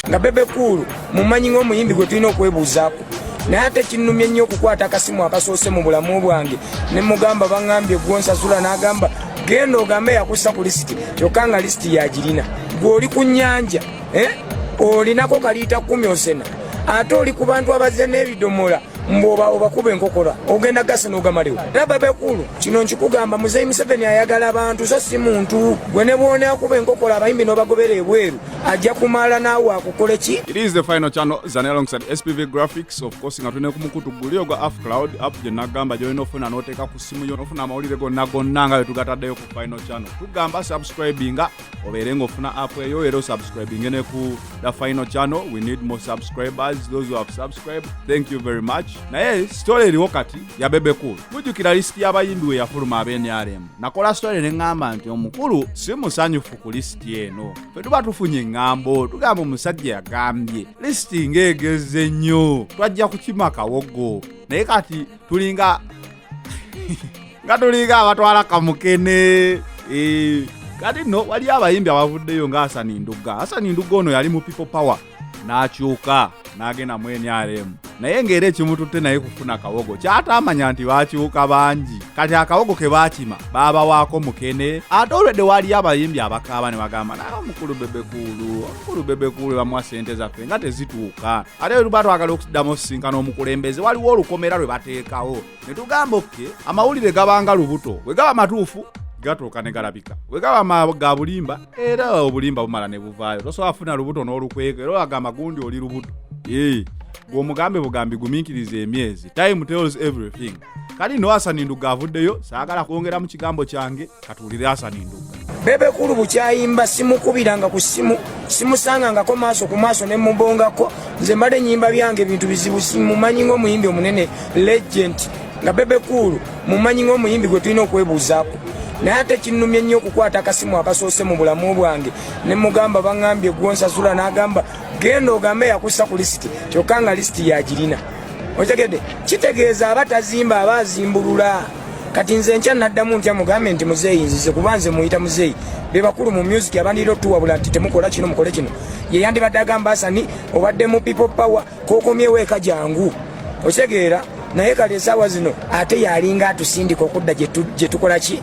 nga bebe kuulu mumanyi ng'omuyimbi gwe tulina okwebuuzaako naye ate kinnumye nnyo okukwata akasimu akasoose mu bulamu bwange ne mugamba baŋambye gwonsasula n'agamba genda ogambe yakussa ku lisiti kyokka nga lisiti yagirina gwe oli ku nnyanja eh? olinako kaliita kumi osena ate oli ku bantu abazze n'ebidomola mboba obakuba enkokola ogenda gasa nogamaliwo laba bekulu kino nkikugamba muzeyi museveni ayagala abantu so si muntu gwe ne bwona akuba enkokola abayimbi nobagobera ebweru ajja kumala naawe akukola ki it is the final channel zane alongside spv graphics of course nga tulina kumukutu guli ogwa af cloud app gye nagamba gyolina ofuna noteeka ku simu yo nofuna amawulire gonna gonna nga wetugataddeyo ku final channel tugamba subscribinga obeere ng'ofuna app eyo era osubscribinge ne ku the final channel we need more subscribers those who have subscribed thank you very much naye story eriwo kati ya bebe cool mujjukira lisiti y'abayimbi we yafuluma ab'enrm nakola story ne ŋŋamba nti omukulu si musanyufu ku lisiti eno fe tuba tufunye eŋŋambo tugamba omusajja yagambye lisiti ng'egeze nnyo twajja kukima kawogo naye kati tulinga nga tulinga abatwala kamukene eh, kati no waliyo abayimbi abavuddeyo nga asani ndugga asani ndugga ono yali mu people power n'akyuka n'agenda mu nrm naye ng'era ekimututte naye kufuna kawogo kyataamanya nti baakyuka bangi kati akawogo ke baakima baabawaako mukene ate olwedde waaliyo abayimbi abakaaba ne bagamba naye omukulu bebekuulu omukulu bebekuulu bamuwa ssente zaffe nga tezituuka ate bwe tuba twagala okuddamu osisinkana omukulembeze waliwo olukomera lwe bateekawo ne tugamba oke amawulire gabanga lubuto bwe gaba matuufu gatuuka ne galabika bwe gaba ga bulimba era obulimba bumala ne buvaayo tosobola afuna lubuto n'olukweka era olagamba gundi oli lubuto gwe omugambe bugambi gumiikiriza emyezi time tells everything kali no asani nduga avuddeyo saagala kwongera mu kigambo kyange katuwulire asani nduga bebe kulu bukyayimba simukubiranga ku simu simusangangako maaso ku maaso ne mubongako nze mbadde nyimba byange ebintu bizibu simumanyi ng'omuyimbi omunene legend nga bebe kulu mumanyi ng'omuyimbi gwe tulina okwebuuzaako naye ate kinnumye nnyo okukwata akasimu akasoose mu bulamu bwange ne mugamba baŋambye gwonsasula n'agamba genda ogambe yakussa ku lisiti kyokka nga lisiti yagirina otegedde kitegeeza aba tazimba aba azimbulula kati nze nkya naddamu ntya mugambe nti muzeeyi nzize kuba nze muyita muzeeyi be bakulu mu music abandira otuwabula nti temukola kino mukole kino ye yandibadde agamba asani obadde mu people power kokomyewo eka jangu otegeera naye kale esaawa zino ate yalinga atusindika okudda gye tukola ki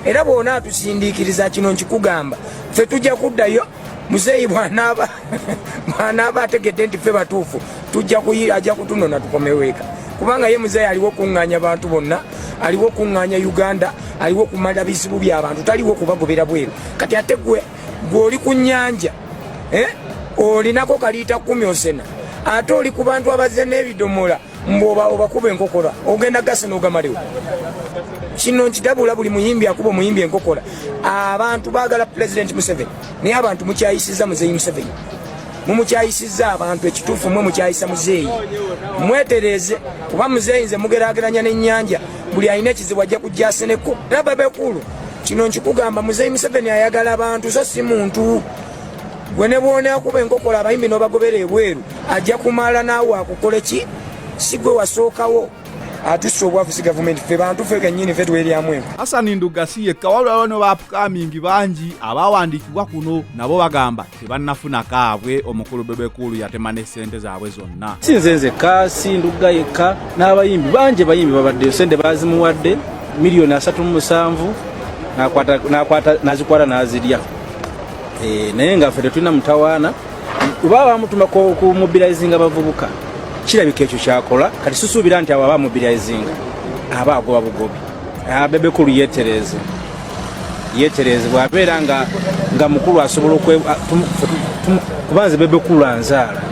era bwona atusindiikiriza kino nkikugamba fe tujja kuddayo muzeeyi bwanaaba bwanaaba ategedde nti ffe batuufu tujja kuyi ajja kutunona tukomeweeka kubanga ye muzeeyi aliwo okuŋŋaanya bantu bonna aliwo okuŋŋaanya uganda aliwo okumala bizibu byabantu taliwo okubagobera bweru kati ate gwe gwe oli ku nnyanja eh? olinako kaliita kumi osena ate oli ku bantu abazze n'ebidomola mboba obakuba enkokora ogenda gasi nogamaliwo kino nkidabula buli muyimbi akuba omuyimbi enkokora abantu bagala pulezidenti museveni naye abantu mukyayisiza muzeyi museveni mumukyayisiza abantu ekituufu mwe mukyayisa muzeeyi mwetereeze kuba muzeeyi nze mugerageranya n'ennyanja buli alina ekizibu ajja kujjaseneko era babekulu kino nkikugamba muzeeyi museveni ayagala abantu so si muntu gwe ne bwonakuba enkokola abayimbi nobagobera ebweru ajja kumala naawe akukole ki si gwe wasookawo atusa obwavu si gavumenti fe bantu fe kenyini fe tweryamu enku hasani nduga si yekka wabula wano baapukamingi bangi abaawandiikibwa kuno nabo bagamba tebannafuna kaabwe omukulu bebekuulu yatema ne ssente zaabwe zonna si nze nzekka si nduga yekka n'abayimbi bangi bayimbi babaddeyo sente baazimuwadde miliyoni asatu mu musanvu nazikwata nazirya Eh, naye nga ffe tetulina mutawaana oba bamutuma ku mobilizinga bavubuka kirabika ekyo kyakola kati susuubira nti abo aba mobilizinga aba agoba bugobi ah, bebekulu yetereeze yetereeze bwabeera nga nga mukulu asobola ah, kubanze bebekulu anzaala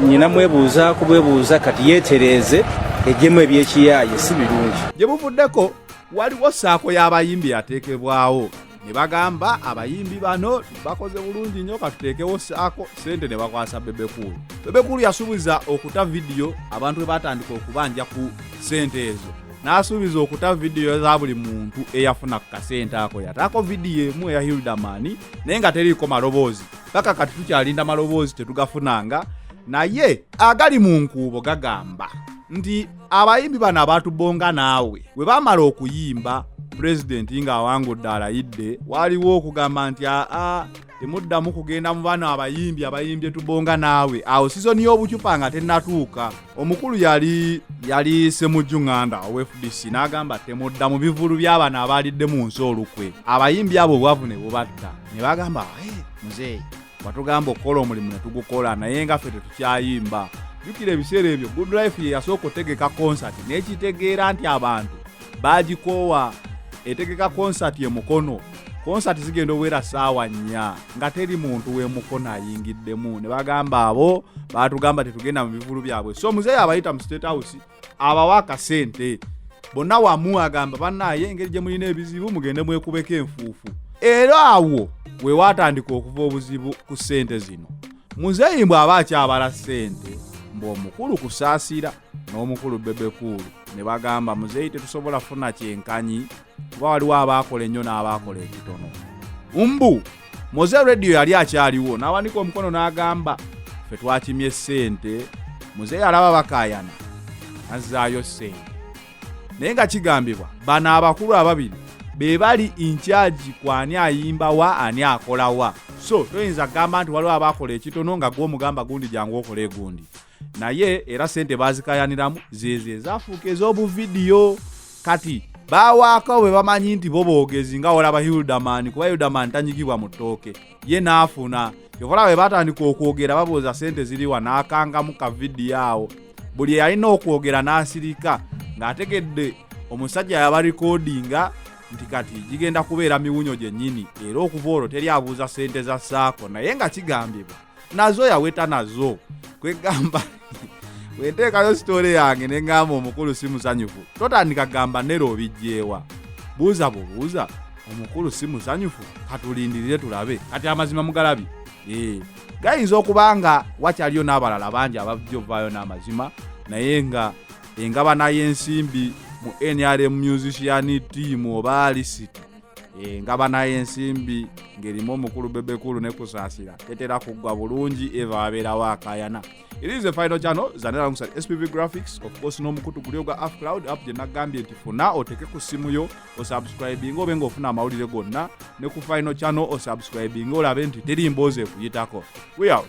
nyina mwebuuza kubwebuuza kati yetereeze ejemu ebyekiyaaye si birungi gye buvuddeko waliwo saako y'abayimbi yateekebwawo ne bagamba abayimbi bano bakoze bulungi nnyo katuteekewo saako sente ne bakwasa bebekulu bebekulu yasuubiza okuta vidiyo abantu bwe batandika okubanja ku sente ezo n'asuubiza okuta vidiyo za buli muntu eyafuna ku kasente ako yataako vidiyo emu eya hildamani naye nga teriiko maloboozi paka kati tukyalinda maloboozi tetugafunanga naye agali mu nkuubo gagamba nti abayimbi bano abantu bonga naawe we bamala okuyimba pulezidenti ng'awangudde alayidde waliwo okugamba nti aa temuddamu kugenda mu bano abayimbi abayimbye tubonga naawe awo sizoni y'obucupa nga tennatuuka omukulu yali yali semujju nganda ow fdc n'agamba temudda mu bivulu by'abano abaalidde mu nsi olukwe abayimbi abo obwavu ne bubatta ne bagamba muzeeyi batugamba okukola omulimu netugukola naye nga ffe tetukyayimba jukira ebiseera ebyo good life ye yasooka otegeka konsati nekitegeera nti abantu bagikoowa etegeka konsati emukono konsati zigenda obuwera saawa nnya nga teri muntu wemukono ayingiddemu ne bagamba abo batugamba tetugenda mu bivulu byabwe so muzeeyi abayita mu state house abawa akasente bonna wamu agamba bannaaye engeri gye mulina ebizibu mugende mwekubeko enfuufu era awo we waatandika okuva obuzibu ku ssente zino muzeeyi mbw aba akyabala ssente mbu omukulu kusaasira n'omukulu bebekuulu ne bagamba muzeeyi tetusobola funa kyenkanyi kuba waliwo abaakola ennyo n'abaakola ekitono mbu moze radio yali akyaliwo n'awanika omukono n'agamba fe twakimye ssente muzeeyi alaba bakayana azzaayo ssente naye nga kigambibwa bano abakulu ababiri be bali inkyagi ku ani ayimba wa ani akola wa so toyinza kugamba nti waliwo abaakola ekitono nga gwomugamba gundi jangu okole egundi naye era sente bazikayaniramu zeze zafuuka ez'obuvidiyo kati bawaako bwe bamanyi nti bo boogezi nga olaba hildaman kuba hildaman tanyigibwa mu ttooke ye n'afuna yokola bwe batandika okwogera babuuza sente ziriwa n'akangamu ka vidiyo awo buli eyalina okwogera n'asirika ng'ategedde omusajja yabarikodinga nti kati gigenda kubeera miwunyo gyennyini era okuva olwo teri abuuza sente za saako naye nga kigambibwa nazo yaweta nazo kwegamba wenteekayo sitoole yange ne ŋŋamba omukulu si musanyufu totandika gamba nera obijjeewa buuza bubuuza omukulu si musanyufu katulindirire tulabe kati amazima mugalabi ee gayinza okuba nga wakyaliyo n'abalala bangi abajja ovaayo n'amazima naye nga engabana y'ensimbi mu nrm musician team oba lisiti Eh, nga banaye ensimbi ng'erimu omukulu bebekulu ne kusaasira tetera kuggwa bulungi eva abeerawo akayana it is a final channel zanera alongside spv graphics of course n'omukutu guli ogwa af cloud app gye nagambye nti funa oteke ku ssimu yo osubscribinga obe ng'ofuna amawulire gonna ne ku final channel osubscribinga olabe nti teri mboozi ekuyitako we out